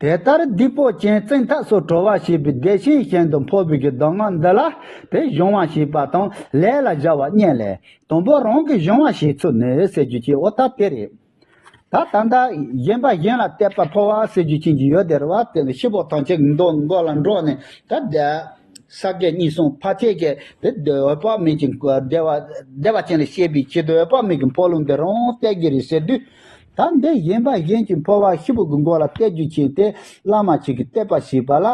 དེ་ལྟར་རྡུལ་སྤོ་ཅན་བཙན་ཐབས་སུ་གྲོལ་བ་ཞེས་པའི་བདེ་ཆེན་གཞན་དུ་འཕོ་བའི་གདམས་ངག་འདི་ལ་དེ་གཞུང་བ་ཞེས་པ་དང་ལས་ལ་བཞག་བ་གཉིས་ལས་དང་པོ་རང་གི་གཞུང་བ་ཞེས་ཚུལ་ནི་ཟེར་རྒྱུ་ཅན་ཨོ་ད་པེ་རེད། ད་ད་ལྟ་གཞན་པ་གཞན་ལ་བལྟས་པ་འཕོ་བ་ཟེར་རྒྱུ་ཅན་གྱི་ཡོད་དེར་བ་དེ་ནི་ཤི་བོ་ཐང་ཆེན་མདོ་འགོ་ལ་འགྲོ་ནས་ད་བསྡད། ས་བརྒྱད་གཉིས་གསུངས་ཕ་ཁྱེད་ཀྱིས་དེ་འདོད་དཔག་མེད་ཀྱི་བདེ་བ་བདེ་བ་ཅན་ལས་སྐྱེས་པའི་ཕྱིར་འདོད་དཔག་མེད་ཀྱི་འཕོ་ལུང་འདི་རང་གཏད་ཀྱི་རེད་ཟེར་དུས། ད་འདི་གཞན་པ་གཞན་གྱི་འཕོ་བ་ཤི་བོ་གི་མགོ་ལ་གཏད་རྒྱུ་བྱས་ཏེ་བླ་མ་ཞིག་གིས་གཏད་པ་ཞིག་པ་ལ།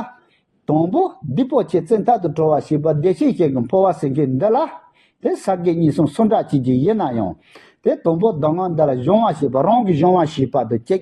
དང་པོ་འདི་པོ་ཆེ་བཙན་ཐབས་དུ་གྲོལ་བ་ཞིག་པ་བདེ་གཤེགས་ཞིག་གི་འཕོ་བ་ཟེར་མཁན་འདི་ལ། དེ་ས་བརྒྱད་གཉིས་གསུངས་སུ་འདྲ་བྱེད་ཀྱི་ཡིན་ན་ཡང། དེ་དང་པོ་ཟླ་ངོ་འདི་ལ་གཞུང་བ་ཞེས་པ་རང་གི་གཞུང་བ་ཞིག་པ་དུ་སྐྱེས་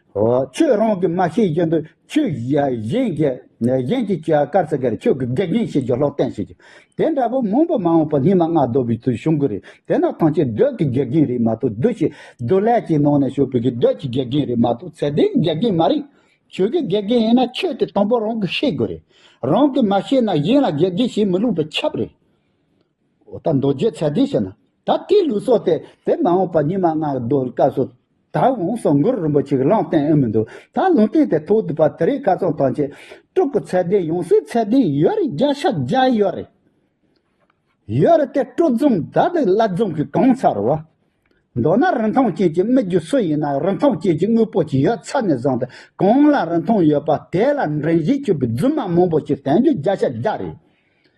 ཁྱོད་རང་གིས་མ་ཤེས་བཞིན་དུ་ཁྱོད་གཞན་གྱི་ཁྱོད་དཀར་ཟེར་ག་རེ་ཁྱོད་ཀྱི་དགེ་རྒན་ཞེས་ཀྱང་ལྷག་བསྟན་བྱེད་ཅིག། དེ་འདྲ་བོ་མང་པོ་མ་འོངས་པར་སྙིང་མ་ལྔ་བདོ་བའི་ཚུལ་བྱུང་གི་རེད་དེ་ན་ཐང་ཆེན་བདོད་ཀྱི་དགེ་རྒན་རེད་མ་གཏོགས་བདུད་བྱེད་བདུད་ལས་ཀྱི་ནང་ནས་བྱུང་བའི་བདོད་ཀྱི་དགེ་རྒན་རེད་མ་གཏོགས་ཚད་ལྡན་གྱི་དགེ་རྒན་མ་རེད། ཁྱོད་ཀྱི་དགེ་རྒན་ཡིན་ན་ཁྱོད་དེ་དང་པོ་རང་གིས་ཤེས་དགོས་རེད། རང་གིས་མ་ཤེས་ན་གཞན་ལ་དགེ་རྒན་བྱེད་མི་ལུགས་པའི་ཁྱབ་རེད། འོ་ད་མདོ་རྒྱུད་ཚད་ལྡན་ཞིག་ན་ད་ལྟའི་ལུགས་སྲོལ་དེ་དེ་མ་འོངས་པ་ཉི་མ་སྔ་བརྡོལ་སྐབས་སུ་ད་འོང་སོང་མགུར་རིང་པོ་ཅིག་བླངས་གཏན་ཨེ་མི་འདུག་ད་ལུང་བསྟན་དེ་ཐོག་བསྡུས་པ་དེ་རིགས་བཀའ་ཚང་ཐང་ཆེན་དྲུག་གི་ཚད་ལྡན་ཡང་སྲིད་ཚད་ལྡན་ཡོད་རེད་བརྒྱ་ཆ་བརྒྱ་ཡོད་རེད། ཡོད་རེད་དེ་སྤྲོ་འཛུམ་ད་དུ་བླ་རྫོང་གི་གང་ས་རུ། མདོར་ན་རིན་ཐང་ཅན་གྱི་སྨིག་རྒྱུ་སུ་ཡིན་ན་རིན་ཐང་ཅན་གྱི་དངོས་པོ་ཞིག་ཡོད་ཚད་ནས་བཟུང་སྟེ་གང་ལ་རིན་ཐང་ཡོད་པ་དེ་ལ་འདྲེན་བཞིན་བསྐྱོད་པའི་རྫུན་མ་མང་པོ་ཞིག་བསྟན་རྒྱུ་བརྒྱ་ཆ་བརྒྱ་རེད།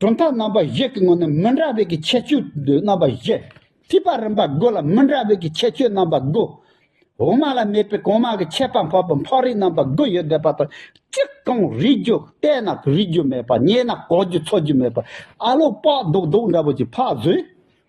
གྲུབ་མཐའ་རྣམ་པ་བཞི་གི་ངོས་ནས་མི་འདྲ་བའི་གི་ཁྱད་ཆོས་རྣམ་པ་བཞི། ཐིགས་པ་རིམ་པ་དགུ་ལ་མི་འདྲ་བའི་གི་ཁྱད་ཆོས་རྣམ་པ་དགུ། འོག་མ་ལ་མེད་པའི་གོང་མ་གི་ཁྱད་པར་འཕགས་པའི་འཕགས་རིགས་རྣམ་པ་དགུ་ཡོད་བསྡད་པ་དང་གཅིག་གང་རིགས་རྒྱུ་བལྟས་ན་རིག་རྒྱུ་མེད་པ་རྙེད་ན་གོག་རྒྱུ་འཚོ་རྒྱུ་མེད་པ་ཨ་ལོ་པགས་རྡོག་རྡོག་འདྲ་བོ་ཅིག་འཕགས་བཟོས།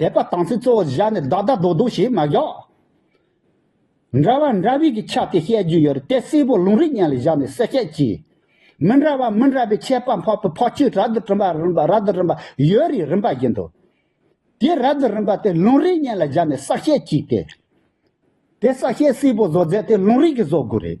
དད་པ་དང་ཚིག་གཙོ་བོར་བཞག་ནས་བདག་བདག་རྡོག་རྡོག་ཞེས་མ་བཞག། འདྲ་བ་འདྲ་བའི་གི་ཆ་དེ་བཤད་རྒྱུ་ཡོད་དེ་སེར་པོ་ལུང་རིགས་གཉན་ལ་བཞག་ནས་གསལ་བཤད་གྱིས། མི་འདྲ་བ་མི་འདྲ་བའི་ཁྱད་པར་འཕགས་པའི་འཕགས་ཆོས་རབ་ཏུ་རིམ་པ་རབ་ཏུ་རིམ་པ་ཡོད་རེད་རིམ་པ་བཞིན་དུ། དེ་རབ་ཏུ་རིམ་པ་དེ་ལུང་རིགས་གཉན་ལ་བཞག་ནས་གསལ་བཤད་གྱིས་ཏེ། དེ་གསལ་བཤད་སེར་པོ་བཟོ་རྫས་དེ་ལུང་རིགས་ཀྱིས་བཟོ་དགོས་རེད།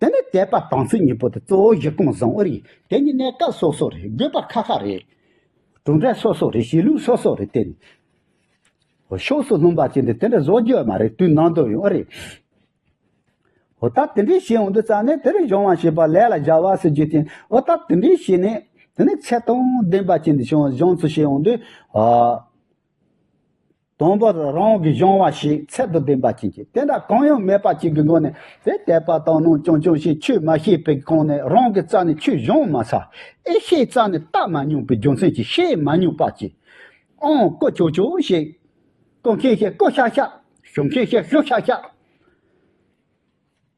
དེ་ནི་དད་པ་དང་ཚིག་གཉིས་པོ་དེ་གཙོ་བོ་གཞི་གང་བཟང་བོ་རེད་དེ་གཉིས་གནས་སྐབས་སོ་སོ་རེད་དགོས་པ་ཁ་ཁ་རེད། གྲུབ་འབྲས་སོ་སོ་རེད་བྱེད་ལུགས་སོ་སོ་རེད་དེ། ཧོ་ཕྱོགས་སུ་ལྷུང་བ་བྱས་འདི་དེ་འདྲ་བཟོ་རྒྱུ་མ་རེད་དུས་ནང་དུ་ཡོང་ཨ་རེད། ཧོ་ད་དེ་འདྲས་བྱས་འོང་དུས་རྩ་ནས་དེ་རིང་བྱུང་བ་ཞེས་པ་ལས་ལ་བཞག་བ་ཟེར་རྒྱུ་དེ་ཨོ་ད་དེ་འདྲས་བྱས་ནས་དེ་ནས་ཚད་དང་ལྡན་པ་བྱས་འདི་བྱུང་བ་བྱུང་ཚུལ་བྱས་འོང་དུས། དང་པོ་རང་དབང་གི་གཞུང་བ་ཞིག་ཚད་དུ་ལྡན་པ་བྱིན་གྱིས་དེ་འདྲ་གང་ཡང་མེད་པ་ཅིག་གི་སྒོ་ནས་དེ་དད་པ་དང་སྣང་ཆུང་ཆུང་ཞིག་ཆུད་མ་ཤེས་པའི་སྒང་ནས་རང་གི་རྩ་ནས་ཆུ་བཞོན་མ་ཚར་ཨེ་ཤེས་རྩ་ནས་བལྟ་མ་མྱོང་པའི་རྒྱུ་མཚན་གྱིས་ཤེས་མ་མྱོང་པ་ཅིག་ཨང་བཀོད་ཆོག་ཆོག་ཞིག། བཀོད་མཁན་ཞིག་བཀོད་ཤག་ཤག། ཞུ་མཁན་ཞིག་ཞུ་ཤག་ཤག།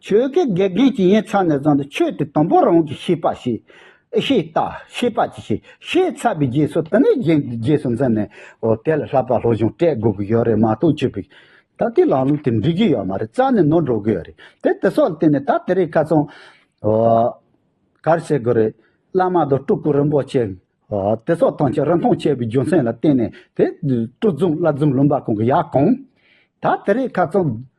ཆོས་ཀྱི་དགེ་རྒན་གྱིས་ཡིན་ཚང་ནས་བཟུང་སྟེ་ཆོས་དེ་དང་པོ་རང་གིས་ཤེས་པ་ཤེས། ཤེས་ལྟ། ཤེས་པ་གྱིས་ཤེས། ཤེས་ཚར་བའི་རྗེས་སུ་དེ་ནས་རྗེས་སུ་འཛིན་ནས་འོ་དེ་ལ་ལྷག་པར་སློབ་སྦྱོང་སྤྲད་དགོས་ཀྱི་ཡོད་རེད་མ་གཏོགས་ཆོས་པའི་ད་ལྟའི་ལམ་ལུགས་དེ་འགྲིག་གི་ཡོད་མ་རེད་རྩ་ནས་ནོར་འགྲོ་གི་ཡོད་རེད་དེ་དེ་སོགས་ལ་བརྟེན་ནས་ད་དེ་རིགས་ཁ་ཚོན་གར་བྱེད་དགོས་རེད་བླ་མ་དང་སྤྲུལ་སྐུ་རིན་པོ་ཆེ་དེ་སོགས་ཐང་ཆེན་རིན་ཐང་ཆེ་བའི་རྒྱུ་མཚན་ལ་བརྟེན་ནས་དེ་སྤྲུལ་རྫུན་བླ་རྫུན་བླུན་པ་ཀུན་གྱི་ཡ་གང་ད་དེ་རིགས་ཁ་ཚོན།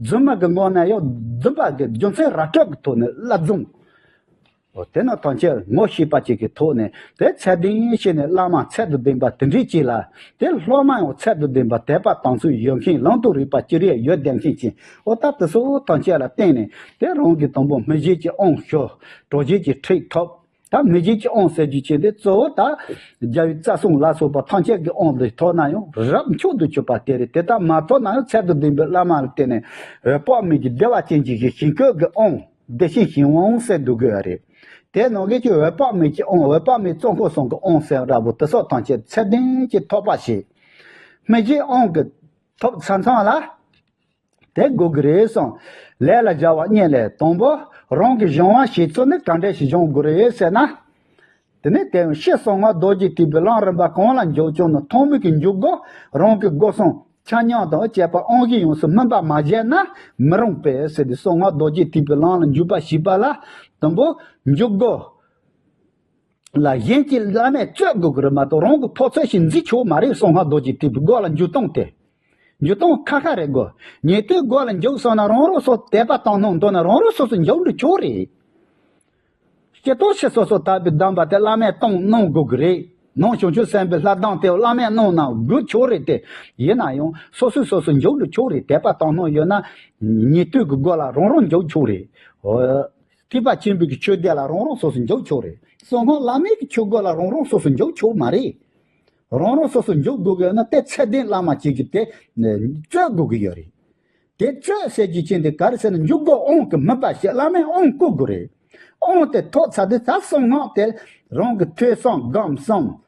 རྫུན་མ་གི་ངོ་ན་ཡང་རྫུན་པ་གི་རྒྱུ་མཚན་ར་སྤྲོད་ཀྱི་ཐོག་ནས་བསླབ་བཟུང། དེ་ནི་ཐམས་ཅད་ངོ་ཤེས་པ་ཅིག་གི་ཐོག་ནས་དེ་ཚད་ལྡན་ཡིན་ཞེས་ནས་བླ་མ་ཚད་དུ་ལྡན་པ་དེ་འདྲའི་གཅིག་ལ་དེ་སློབ་མ་ཡང་ཚད་དུ་ལྡན་པ་དད་པ་དང་ཚུལ་ཡོད་མཁན་ལམ་དུ་རིགས་པ་ཅི་རིགས་ཡོད་བདེན་མཁན་གྱི་ཨོ་ད་དེ་སོགས་ཐམས་ཅད་ལ་བརྟེན་ནས་དེ་རང་གི་དང་པོ་མི་བཞེད་ཀྱི་ཨང་ཞོ་གྲོགས་བཞེད་ཀྱི་ཁྲིགས་ཐོབ། ད་མི་རྗེ་ཀྱི་ཨོང་ཟེར་རྒྱུ་བྱས་པས་གཙོ་བོ་ད་རྒྱ་བའི་རྩ་གསུམ་ལ་སོགས་པ་ཐམས་ཅད་ཀྱི་ཨོང་དེ་ཐོགས་ན་ཡང་རབ་མཆོག་ཏུ་གྱུར་པ་དེ་རེད་དེ་ལྟར་མ་ཐོགས་ན་ཡང་ཚད་དུ་ལྡན་པའི་བླ་མ་ལ་བརྟེན་ནས་དཔག་མེད་ཀྱི་བདེ་བ་ཅན་གྱི་ཞིང་བཀོད་ཀྱི་ཨོང་བདེ་ཆེན་ཞིང་དབང་ཟེར་འདུག་གི་རེད། དེའི་ནང་གི་ཆོས་འོད་དཔག་མེད་ཀྱི་ཨོང་འོད་དཔག་མེད་གཙོ་འཁོར་སྲུང་གི་ཨོང་ཟེར་ར་བོ་དེ་སོགས་ཐམས་ཅད་ཚད་ལྡན་གྱི་ཐོགས་པ་བྱས། མི་རྗེའི་ཨོང་གི་ཐོབ་ས་མཚམས་ལ། དེ་དགོས་ཀྱི་རེད་གསུངས། ལས་ལ་སྦྱར་བ་གཉིས་ལས་དང་པོ་རང་གི་གཞུང་དབང་ཞིག་ཚུགས་ནས་ག་འདྲས་ཞིག་སྦྱང་དགོས་རེད་ཟེར་ན། དེ་ནས་དེ་བཞིན་གཤེགས་གསང་བ་རྡོ་རྗེ་ཐེག་པའི་གླང་རིན་པ་གང་ལ་འཇོག་ཆོག་ནི་ཐོག་མེད་ཀྱི་འཇུག་སྒོ་རང་གི་སྒོ་གསུམ་ཆ་མཉམ་དང་བཅས་པ་དབང་བཞི་ཡོངས་སུ་སྨིན་པ་མ་བཞེས་ན་མི་རུང་བས་ཟེར་ཏེ་གསང་བ་རྡོ་རྗེ་ཐེག་པའི་གླང་ལ་འཇུག་པ་ཞིག་པ་ལ་དང་པོ་འཇུག་སྒོ། ལ་གཞན་གྱི་བླ་མས་གཙོས་དགོས་ཀྱི་རེད་མ་གཏོགས་རང་གི་ཕོ་ཚོད་ཞིག་འཛིན་ཆོག་མ་རེད་སོང་ང་རྡོ་རྗེ་ཐེག་པའི་སྒོ་ལ་འཇུག་སྟངས་དེ། འཇུག་སྟངས་ཁ་ཁ་རེད་དགོས་ཉེ་དུའི་སྒོ་ལ་འཇུག་སོང་ན་རང་རང་སོ་དད་པ་བཏང་གནང་འདོད་ན་རང་རང་སོ་སོ་འཇུག་འགྲོ་ཆོག་རེད། སྐྱེ་རྟོག་ཕྱིར་སོ་སོ་དད་པའི་གདམས་པ་དེ་བླ་མས་བཏང་གནང་དགོས་ཀྱི་རེད་ནང་བྱང་ཆུབ་སེམས་དཔའི་ལྷ་གདམས་དེ་བླ་མས་གནང་གནང་དགོས་ཆོག་རེད་དེ། ཡིན་ན་ཡང་སོ་སོས་སོ་སོ་འཇུག་འགྲོ་ཆོག་རེད་དད་པ་བཏང་གནང་ཡོད་ན། ཉེ་དུས་ཀྱི་སྒོ་ལ་རང་རང་འཇུག་ཆོག་རེད། ཐེག་པ་ཆེན་པོའི་གི་ཆོས་སྡེ་ལ་རང་རང་སོ་སོ་འཇོག་ཆོག་རེད་གསང་སྔགས་བླ་མའི་གི་ཆོས་སྒོ་ལ་རང་རང་སོ་སོ་འཇོག་ཆོག་མ་རེད། རང་རང་སོ་སོ་འཇོག་དགོས་གི་ཡོད་ན་དེ་ཚད་ལྡན་བླ་མ་གཅིག་གི་དེ་རྩོད་དགོས་གི་ཡོད་རེད། དེ་རྩོད་བྱེད་ཀྱི་ཆེན་དེ་གར་ཟེར་ན་འཇུག་སྒོ་ཨང་གི་མི་པ་ཞིག་བླ་མའི་ཨང་བསྐུར་དགོས་རེད། ཨང་དེ་ཐོག་ཚ་དེ་ད་གསང་སྔགས་དེ་རང་གི་ཐོས་བསམ་སྒོམ་བསམ་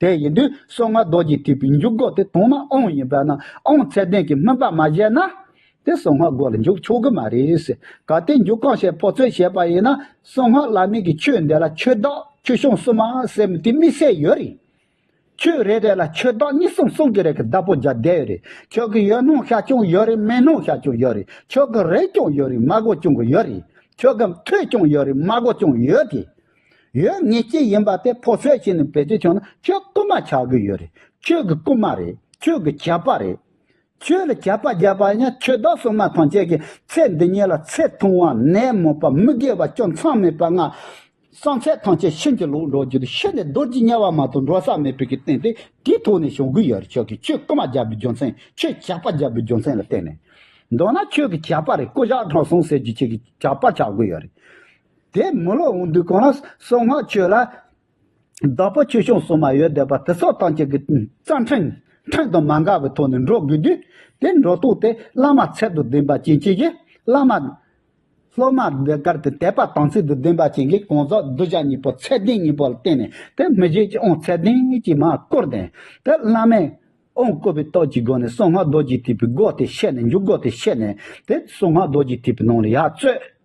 དེ་ཡིན་དུས་སོ་ལྔ་རྡོ་རྗེ་ཐེག་པའི་མཇུག་སྒོ་དེ་དོང་ན་ཨོང་ཡིན་པ་ན་ཨོང་ཚད་ལྡན་གྱི་སྨོན་པ་མ་བཞེས་ན། དེ་སོ་ལྔ་སྒོ་ལ་འཇུག་ཆོག་གི་མ་རེད། གལ་ཏེ་མཇུག་གང་བྱས་ཕོག་ཚོད་བྱས་པ་ཡིན་ན་སོ་ལྔ་བླ་མེད་ཀྱི་ཆོས་འདི་ལ་ཆོས་བདག་ཆོས་སྐྱོང་གསུམ་མ་ཟེར་མི་དེ་དམིགས་བསལ་ཡོད་རེད། ཆོས་རེ་རེ་ལ་ཆོས་བདག་གཉིས་གསུམ་གསུམ་གྱི་རེ་ཁ་བདག་པོ་བརྒྱ་བསྡད་ཡོད་རེད་ཆོས་ཀྱི་ཡོད་སྣང་ཤ་སྐྱོང་ཡོད་རེད་མེད་སྣང་ཤ་སྐྱོང་ཡོད་རེད་ཆོས་ཀྱི་རེ་སྐྱོང་ཡོད་རེད་མ་སྒོ་སྐྱོང་གི་ཡོད་རེད་ཆོས་ཀྱི་མཐུ་སྐྱོང་ཡོད་རེད་མ་སྒོ་སྐྱོང་ཡོད་དེ། ཡོད་ངེས་ཅི་ཡིན་པ་དེ་ཕོ་སོད་བྱས་ནས་བེད་སྤྱོད་བྱུང་ན་ཁྱོད་རྐུན་མ་ཆགས་གི་ཡོད་རེད་ཁྱོད་ཀྱི་རྐུན་མ་རེད་ཁྱོད་ཀྱི་གྱད་པ་རེད། ཁྱོད་ལ་གྱད་པ་རྒྱབ་པ་ཡིན་ན་ཁྱོད་བདག་སྲུང་མ་ཐང་ཆད་ཀྱི་ཚེ་འདི་ཉིད་ལ་ཚེ་ཐུང་བ་ནད་མུག་པ་མི་དགེ་བ་སྐྱོན་མཚང་མེད་པ་ལྔ། སང་ཚེ་ཐང་ཆད་ཤིན་ཅི་ལོག་འགྲོ་རྒྱུ་དེ་ཤི་ནས་རྡོ་རྗེ་དམྱལ་བ་མ་གཏོགས་འགྲོ་ས་མེད་པའི་གི་རྟེན་དེ་དེའི་ཐོག་ནས་བྱུང་གི་ཡོད་རེད་ཁྱོད་ཀྱིས་ཁྱོད་རྐུན་མ་རྒྱབ་པའི་རྒྱུ་མཚན་ཁྱོད་གྱད་པ་རྒྱབ་པའི་རྒྱུ་མཚན་ལ་བརྟེན་ནས། མདོར་ན་ཁྱོད་ཀྱི་གྱད་པ་རེད་རྐུ་བཞག་དྲང་སྲོང་ཟེར་རྒྱུ་ཁྱོད་ཀྱི་གྱད་པ་ཆགས་གི་ཡོད་རེད། དེས་མི་ལོ་འོང་དུས་གང་ན་སོང་སྔགས་མཆོད་ལ། བདག་པོ་ཆོས་སྐྱོང་སོགས་མ་ཡོད་བསྡད་པ་དེ་སོགས་སྟངས་གཅིག་གི་རྩ་འཕྲེང། འཕྲེང་དང་མ་འགག་པའི་ཐོག་ནས་འགྲོ་དགོས་དུས། དེ་འགྲོ་ལྡོག་དེ་བླ་མ་ཚད་དུ་ལྡན་པ་ཅན་གྱིས་བཞེས། བླ་མ། སློབ་མ་འདི་དགར་དེ་དད་པ་དམ་ཚིག་ཏུ་ལྡན་པ་ཅན་གྱིས་གང་ཟག་གདུལ་བྱ་གཉིས་པོ་ཚད་ལྡན་གཉིས་པོ་ལ་བརྟེན་ནས་དེ་མི་བཞེས་ཀྱང་ཚད་ལྡན་གྱིས་མ་བསྐོར་ཏེ། དེ་བླ་མས། དབང་བསྐུར་བའི་རྟགས་ཀྱི་སྒོ་ནས་གསང་སྔགས་རྡོ་རྗེ་ཐེག་པའི་སྒོ་དེ་བཤད་ནས་མཇུག་སྒོ་དེ་བཤད་ནས་དེ་གསང་སྔགས་རྡོ་རྗེ་ཐེག་པའི་ནང་ལ་ཡར་རྩོད།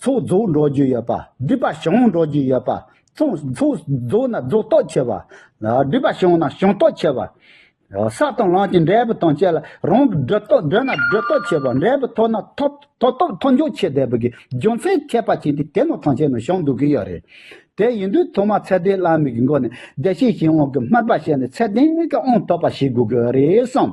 ཚོགས་རྫོགས་འགྲོ་རྒྱུ་ཡོད་པ། སྒྲིབ་པ་བྱང་འགྲོ་རྒྱུ་ཡོད་པ། ཚོགས་རྫོགས་ན་རྫོགས་རྟོགས་ཆེ་བ། སྒྲིབ་པ་བྱང་ན་བྱང་རྟོགས་ཆེ་བ། ས་དང་རླངས་ཀྱི་འབྲས་བུ་དང་བཅས་ལ་རང་གི་སྒྲིབ་རྟོགས་བསྒྲོད་ན་སྒྲིབ་རྟོགས་ཆེ་བ། འབྲས་བུ་ཐོབ་ན་ཐོབ་རྟོགས་མཐོ་འཇོག་ཆེ་བསྡད་པའི་རྒྱུ་མཚན་མཁས་པ་གཅིག་དེ་ནོར་ཐང་ཆེན་ནས་བྱུང་འདུག་གི་ཡོད་རེད། དེ་ཡིན་དུས་ཐོག་མར་ཚད་ལྡན་བླ་མེད་ཀྱི་མགོ་ནས་བདེ་གཤེགས་ཞིང་དབང་གི་སྨྲ་པ་བཤད་ནས་ཚད་ལྡན་གྱི་དབང་ཐོབ་པ་ཞིག་དགོས་ཀྱི་རེད་བསམས།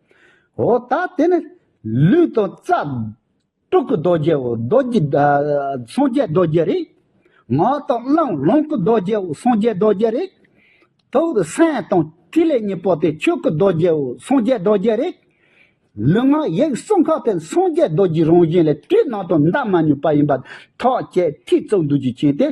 འོ་ད་དེ་ནི་ལུས་དང་རྩ། སྤྲུལ་སྐུ་རྡོ་རྗེའོ་རྡོ་རྗེ། སངས་རྒྱས་རྡོ་རྗེ་རེད། ངག་དང་རླངས་ལོངས་སྐུ་རྡོ་རྗེའོ་སངས་རྒྱས་རྡོ་རྗེ་རེད། ཐུགས་ཀྱི་སེམས་དང་ཐིག་ལེ་གཉིས་པོ་དེ་ཆོས་སྐུ་རྡོ་རྗེའོ་སངས་རྒྱས་རྡོ་རྗེ་རེད། ལུས་ངག་ཡིད་གསུམ་ཁ་དེ་སངས་རྒྱས་རྡོ་རྗེའི་རང་བཞིན་ལས་སྤྲུལ་སྣང་དང་འདའ་མ་ནུས་པ་ཡིན་པ་ཐག་བཅད་ཐིག་བརྩེགས་འདུལ་གྱི་མཁྱེན་ཏེ།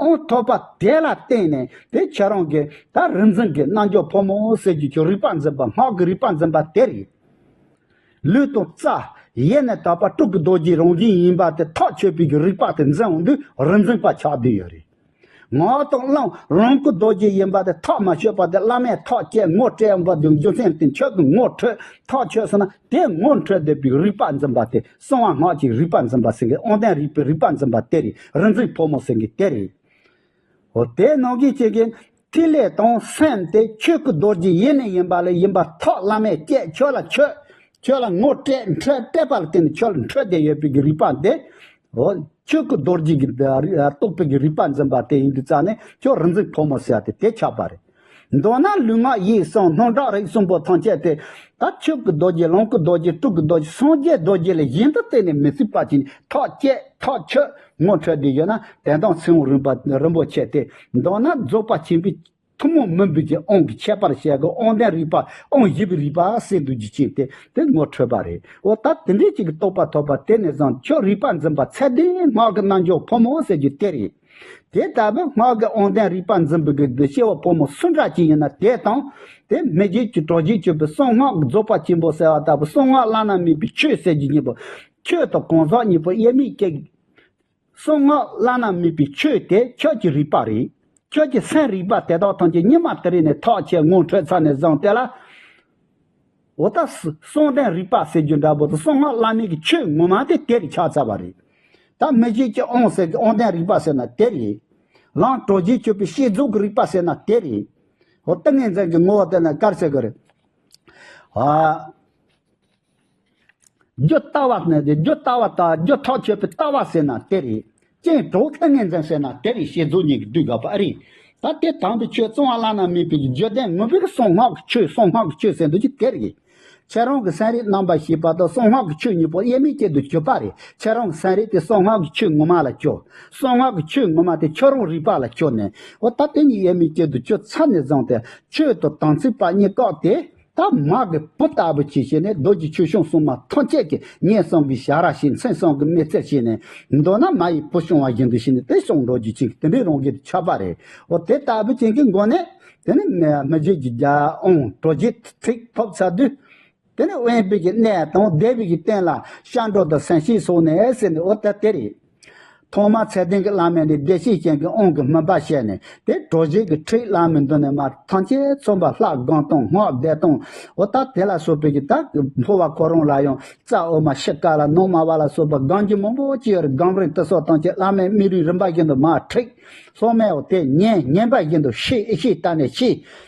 ཨོང་ཐོག་པ་དེ་ལ་བརྟེན་ནས་དེ་ཁྱེད་རང་གི་ད་རིང་འཛིན་གྱི་རྣལ་འབྱོར་ཕོ་མོ་སེར་གྱི་ཆོས་རིག་པ་འཛིན་པ་སྔགས་ཀྱི་རིག་པ་འཛིན་པ་དེ་རེད། ལུས་དང་རྩ། ཡེ་ནས་དག་པ་སྤྲུལ་སྐུ་རྡོ་རྗེའི་རང་བཞིན་ཡིན་པ་དེ་ཐག་ཆོད་པའི་རིག་པ་དེ་འཛིན་འོང་དུས་རིག་འཛིན་པ་ཆགས་དུས་ཡོད་རེད། ངག་དང་བླང་རང་སྐུ་རྡོ་རྗེ་ཡིན་པ་དེ་ཐག་མ་ཆོད་པ་དེ་བླ་མས་ཐག་བཅད་ངོ་སྤྲད་འོང་པ་དེའི་རྒྱུ་མཚན་དེ་ཁྱོད་ཀྱི་ངོ་འཕྲོད་ཐག་ཆོད་སོང་ན་དེ་ངོ་འཕྲོད་འདོད་པའི་རིག་པ་འཛིན་པ་དེ་གསང་བ་སྔགས་ཀྱི་རིག་པ་འཛིན་པ་སེང་གེ་ཨོང་ལྡན་རིག་པའི་རིག་པ་འཛིན་པ་དེ་རེད་རིག་འཛིན་ཕོ་མོ་སེང་གེ་དེ་རེད། ཧོ་དེས་ནོར་གྱི་སྐྱེ་རྒན། ཐིག་ལེ་དང་སེམས་དེ་ཁྱོད་ཀྱི་རྡོ་རྗེ་ཡེ་ནས་ཡིན་པ་ལས་ཡིན་པ་ཐོག་བླ་མས་བསྐྱེད་ཁྱོད་ལ་ཁྱོད། ཁྱོད་ལ་ངོ་སྤྲད་འཕྲད་སྤྲད་པ་ལ་བརྟེན་ནས་ཁྱོད་ལ་འཕྲོད་བསྡད་ཡོད་པའི་གི་རིག་པ་དེ། ཧོ། ཁྱོད་ཀྱི་རྡོ་རྗེ་གི་རྟོགས་པའི་གི་རིག་པ་འཛིན་པ་དེ་ཡིན་དུས་རྩ་ནས་ཁྱོད་རིག་འཛིན་ཕོ་མོ་སེའ་དེ་དེ་ཆགས་པ་རེད། མདོར་ན་ལུས་ངག་ཡིད་གསང་སྣང་དྲག་རིག་གསུམ་པོ་ཐམས་ཅད་དེ། ད་ཆོས་ཀྱི་རྡོ་རྗེ་ལོངས་ཀྱི་རྡོ་རྗེ་སྤྲུལ་གྱི་རྡོ་རྗེ་སངས་རྒྱས་རྡོ་རྗེ་ལས་གཞན་དུ་གཏན་ནས་མི་སྲིད་པ་ཅིག་ནི་ཐག་བཅད་ཐག་ཆོད་ངོ་འཕྲོད་དེ་ཡོད་ན་དད་དང་མཚན་དབང་རིན་པོ་ཆེ་སྟེ། མདོར་ན་རྫོགས་པ་ཆེན་པོའི་ཐུན་མོང་མི་འབུལ་གྱི་དབང་གི་ཁྱད་པར་བཤད་སྒོ་དབང་ལྡན་རིག་པ་དབང་བཞི་པའི་རིག་པ་སེ་འདུ་རྒྱུ་ཅན་དེ་དེ་ངོ་འཕྲོད་པ་རེད་འོ་ད་དེ་འདྲའི་ཅིག་གི་རྟོགས་པ་ཐོབ་པ་དེ་ནས་བཟུང་ཁྱོད་རིག་པ་འཛིན་པ་ཚད་ལྡན་སྔགས་ཀྱི་རྣལ་འབྱོར་ཕོ་མོ་ཟེར་རྒྱུ་དེ་རེད། དེ་ལྟ་བུའི་སྔགས་ཀྱི་དབང་ལྡན་རིག་པ་འཛིན་པའི་གདུལ་བྱ་བ་ཕོ་མོ་སུ་འདྲ་ཅིག་ཡིན་ན་དེ་དང། དེ་མི་རྗེས་ཀྱི་གྲོགས་བྱེད་སྤྱོད་པའི་གསང་སྔགས་རྫོགས་པ་ཆེན་པོ་གསལ་བ་ལྟ་བུ་གསང་སྔགས་བླ་ན་མེད་པའི་ཆོས་གསལ་བྱེད་གཉིས་པོ། ཁྱོད་དང་གང་ཟག་གཉིས་པོ་དབྱེར་མེད་ཅིག། གསང་སྔགས་བླ་ན་མེད་པའི་ཆོས་དེ་ཁྱོད་ཀྱི་རིག་པ་རེད། ཁྱོད་ཀྱི་སེམས་རིག་པ་དེ་དག་ཐམས་ཅད་ཉི་མ་དེ་རིང་ནས་ཐག་ཆད་ངོ་འཕྲོད་ཚར་ནས་བཟང་སྟེ་ལ། འོ་ད་གསུང་རྟེན་རིག་པ་ཟེར་རྒྱུ་འདྲ་བོ་དང་གསུང་སྔགས་བླ་མེད་ཀྱི་ཆོས་ངོ་མ་དེ་དེར་ཆགས་ཚར་བ་རེད། ད་མི་རྗེ་སྐྱིད་ཨོང་ཟེར་གྱི་ཨོང་རྟེན་རིག་པ་ཟེར་ན་དེ་རེད། རང་གྲོལ་རྗེས་ཆོད་པའི་ཤེས་རྫོགས་ཀྱི་རིག་པ་ཟེར་ན་དེ་རེད། ཧོ་ཏིང་ངེ་འཛིན་གྱི་ངོ་བོ་དེ་ནི་དཀར་ཆག་གི་རེད། ཧོ། རྒྱུ་ལྟ་བ་ནི་རྒྱུ་ལྟ་བ་དང་རྒྱུ་ཐག་ཆོད་པའི་ལྟ་བ་ཟེར་ན་དེ་རེད། སྤྱན་གྲོགས་ཁྱོད་ངན་འཛིན་ཟེར་ན་དེ་རིང་ཤེས་རྫོགས་ཉིད་ཀྱི་དུས་འགག་པ་ཨ་རེ། ད་དེ་དང་པོའི་ཆོས་བཙོང་བ་བླ་ན་མེད་པའི་བརྗོད་བདེན་ངུ་བེར་གསང་སྔགས་ཀྱི་ཆོས་གསང་སྔགས་ཀྱི་ཆོས་ཟེར་འདུག་ཅི་དེ་རེད། ཁྱེད་རང་གི་སེམས་རིག་རྣམ་པ་ཞེས་པ་དང་གསང་སྔགས་ཀྱི་ཆོས་གཉིས་པོ་དབྱེར་མེད་ཅན་དུ་གྱུར་པ་རེད་ཁྱེད་རང་གི་སེམས་རིག་དེ་གསང་སྔགས་ཀྱི་ཆོས་ངོ་མ་ལ་སྐྱོ། གསང་སྔགས་ཀྱི་ཆོས་ངོ་མ་དེ་ཁྱོད་རང་རིག་པ་ལ་སྐྱོ་ནས། འོ་ད་དེ་གཉིས་དབྱེར་མེད་ཅན་དུ་གྱུར་ཚར་ནས་བཟང་སྟེ། ཆོས་དང་དམ་ཚིག་པ་གཉིས་བཀག་སྟེ། ཐ་མག་གི་བུ་ལྟ་བུ་གྱིས་བྱས་ནས་རྡོ་རྗེ་ཆོས་སྐྱོང་སྲུང་མ་ཐམས་ཅད་ཀྱི་ངན་སོང་གི་བྱ་ར་ཞིག་མཚན་སོང་གི་མི་ཚེར་བྱས་ནས་མདོར་ན་མ་ཡི་བུ་བྱུང་བ་བཞིན་དུ་བྱས་ནས་དེ་སོང་འགྲོ་རྒྱུ་བྱིན་གྱི་དེ་འདྲའི་རང་གིར་ཆགས་པ་རེད་འོ་དེ་ལྟ་བུ་བྱིན་གྱི་མགོ་ནས་དེ་ནི་མི་བརྗེད་ཀྱི་རྒྱལ་ཨང་གྲོལ་རྗེས་ཚིག་ཐོབ་ཚར་དུས། དེ་ནི་དབེན་པའི་གནས་དང་སྡེ་བའི་གཏན་ལ་ཤར་འགྲོ་དང་ཟན་ཤེད་སོགས་ནས་ཟེར་ནས་འོ་ད་དེ་རེད། ཐོག་མར་ཚད་ལྡན་གྱི་བླ་མས་ནི་བདེ་གཤེགས་སྤྱན་གྱི་དབང་གི་སྨོན་པ་བྱས་ནས་དེ་གྲོལ་བྱེད་ཀྱི་ཁྲིད་བླ་མའི་མདུན་ནས་མར་ཐང་ཆེན་ཚོམ་བུ་ལྷ་སྒང་སྟོང་སྔགས་བཟླས་སྟོང་འོ་ད་དེ་ལ་སོགས་པའི་ཀྱི་དག་གིས་འཕོ་བ་ཁོ་རང་ལ་ཡང་རྩ་འོ་མ་ཤི་ཀ་ལ་ནང་མ་བ་ལ་སོགས་པ་སྒང་གྱི་མང་པོ་སྤྱི་ཡོར་སྒང་རིག་ཏུ་སོགས་ཐང་ཆེན་བླ་མའི་མི་རིགས་རིམ་པ་བཞིན་དུ་མར་ཁྲིད་སློབ་མའི་འོ་དེ་ཉན་ཉན་པ་བཞིན་དུ་ཤི་ཨི་ཤི་ད་ནས་ཤི་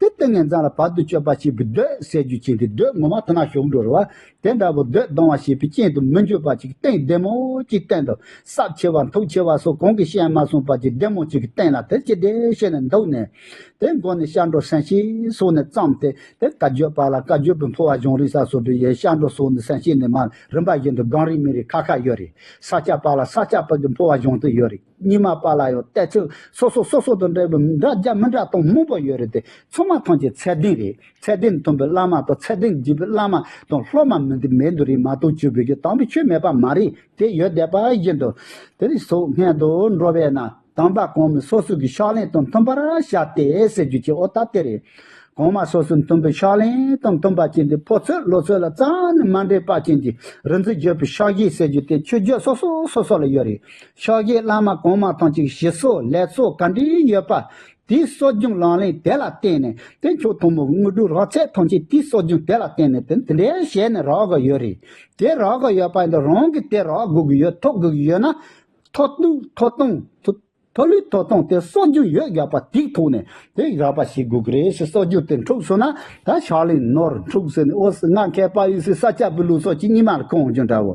དེ་སྟེང་ནས་འཛམ་ལ་བར་དུ་གཅོད་པར་བྱེད་པའི་གདོད་སྲས་རྒྱུ་བྱིན་གྱི་གདོད་ངོ་མ་དུ་མ་ཞོག་འགྲོ་རུ་བ་དེ་འདྲ་བོ་གདོད་སྡོང་བར་བྱེད་པའི་རྐྱེན་དུ་མི་འགྱུར་བར་བྱེད་ཀྱི་སྟེང་བདེ་མོ་ཅིག་བསྟན་ཏོ། སྲབ་ཆེ་བ་མཐུག་ཆེ་བ་སོགས་གོང་གི་བཤད་མ་གསུངས་པར་གྱི་བདེ་མོ་ཅིག་གི་སྟེང་ལ་དེར་ཅི་བདེ་བྱས་ནས་འདུག་ནས། དེའི་མགོ་ནས་ཤར་འགྲོ་སན་ཤེ་སོགས་ནས་བརྩམས་ཏེ་དེར་བཀའ་བརྒྱུད་པ་ལ་བཀའ་བརྒྱུད་པའི་འཕོ་བ་གཞུང་རིག་ས་སོགས་པའི་ཡས་ཤར་འགྲོ་སོགས་ནས་སན་ཤེ་ནས་མར་རིམ་པ་བཞིན་དུ་སྒང་རིགས་མི་རིགས་ཁ་ཁ་ཡོད་རེད། ས་སྐྱ་པ་ལ་ས་སྐྱ་པ་གི་འཕོ་བ་གཞུང་དུ་ཡོད་རེད། གཉིས་མ་པ་ལ་ཡང་བལྟས་ཚོད་སོ་སོ་སོ་སོ་དང་འདྲ་བའི་འདྲ་རྒྱ་མི་འདྲ་སྟོང་མང་པོ་ཡོད་རེད་དེ་ཚང་མ་ཐང་ཆེན་ཚད་ལྡན་རེད་ཚད་ལྡན་མཐོན་པོའི་བླ་མ་དང་ཚད་ལྡན་བརྒྱུད་པའི་བླ་མ་དང་སློབ་མ་མི་འདི་མེད་འདི་རེད་མ་གཏོགས་ཆོས་བོད་ཀྱི་དམ་པའི་ཆོས་མེད་པ་མ་རེད་དེ་ཡོད་བསྡད་པ་བཞིན་དུ། དེ་རིང་སོག་སྔན་དུ་འགྲོ་བས་ན་དམ་པ་གང་མི་སོ་སོ་གི་ཕྱག་ལེན་དང་མཐུན་པར་བྱ་སྟེ་ཟེར་རྒྱུ་གཅིག་ཨོ་ད་དེ་རེད། གང་མ་སོ་སོའི་མཐུན་པའི་ཕྱག་ལེན་དང་མཐུན་པ་ཅན་དེ་ཕོ་ཚོད་ལོ་ཚོད་ལ་རྩ་ནས་མ་འདྲེས་པ་ཅན་གྱི་རིག་འཛིན་བརྗོད་པའི་ཕྱག་བཞེས་ཟེར་རྒྱུ་དེ་ཆོས་བརྒྱུད་སོ་སོ་སོ་སོ་ལ་ཡོད་རེད་ཕྱག་རྒྱའི་བླ་མ་གོང་མ་ཐང་ཅིག་ཞི་སོགས་ལེགས་ཚོགས་ག་འདྲི་ཡོད་པ། དེའི་གསོ་སྦྱོང་ལག་ལེན་དེ་ལ་བརྟེན་ནས་དཔེ་མཆོག་དང་པོ་དངོས་གྲུབ་རག་ཚད་ཐང་ཅིག་དེའི་གསོ་སྦྱོང་དེ་ལ་བརྟེན་ནས་དེ་འདི་འདྲའི་ཞལ་ནས་རག་གི་ཡོད་རེད། དེ་རག་གི་ཡོད་པ་འདི་རང་གིས་དེ་རག་དགོས་ཀྱི་ཡོད་ཐོབ་དགོས་ཀྱི་ཡོད་ན། ཐོ་གཏུག་ཐོ་གཏོང། ཐོ་ལུས་ཐོ་གཏོང་དེ་གསོ་སྦྱོང་ཡོད་རྒྱག་པ་དེའི་ཐོག་ནས་དེ་རག་པ་ཞིག་དགོས་ཀྱི་རེད་ཞེས་གསོ་སྦྱོང་དེ་འཁྲུགས་སོང་ན་ད་ཕྱག་ལེན་ནོར་འཁྲུགས་ཟེར་ནས་ཨོ་སི་ང་མཁས་པ་ཡིས་སི་ས་སྐྱ་པའི་ལུགས་སོགས་ཀྱི་སྙིང་མ་ལ་གང་བྱུང་འདྲ་བོ།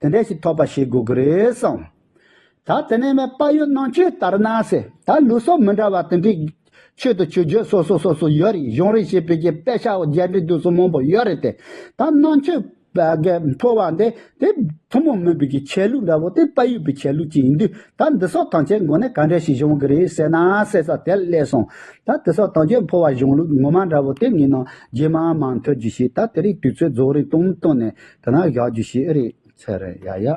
དེ་འདྲས་ཤིག་ཐོབ་པ་བྱེད་དགོས་ཀྱི་རེད་གསུངས། ད་དེ་ནས་མའི་དཔའ་ཡོད་གནང་ཆོས་ལྟར་ན་ཟེར་ད་ལུས་སྲོག་མི་འདྲ་བ་དེ་འདྲས་ཆོས་དང་ཆོས་བརྒྱུད་སོ་སོ་སོ་སོ་ཡོད་རེད་གཞུང་རེ་བྱས་བོད་ཀྱི་དཔེ་ཆ་འོག་རྒྱ་འདྲེ་དུག་གསུམ་མང་པོ་ཡོད་རེད་དེ་ད་གནང་ཆོས་ཕོ་བ་འདི་དེ་ཐུན་མོང་མིན་བོད་ཀྱི་ཆས་ལུགས་འདྲ་བོ་དེ་དཔའ་ཡོད་པའི་ཆས་ལུགས་ཅིག་ཡིན་དུས་ད་འདི་སོག་ཐང་ཆས་མགོ་ནས་ག་འདྲས་ཤིག་བྱུང་གི་རེད་ཟེར་ན་ཟེར་ས་དེ་སླེབས་སོང་ད་དེ་སོག་ཐང་ཆས་ཕོ་བ་གཞུང་ལུགས་ངོ་མ་འདྲ་བོ་དེ་ངེད་ནང་རྗེས་མ་མ་འཐོལ་རྒྱུ་ཞིག་ད་དེ་རིགས་དུས་ཚོད་རྫོགས་རིགས་སྟོང་མི་སྟོང་ནས་དེ་ན་བཞག་རྒྱུ་ཞིག་ཨེ་རེད། ཚེ་རིང། ཡ་ཡ།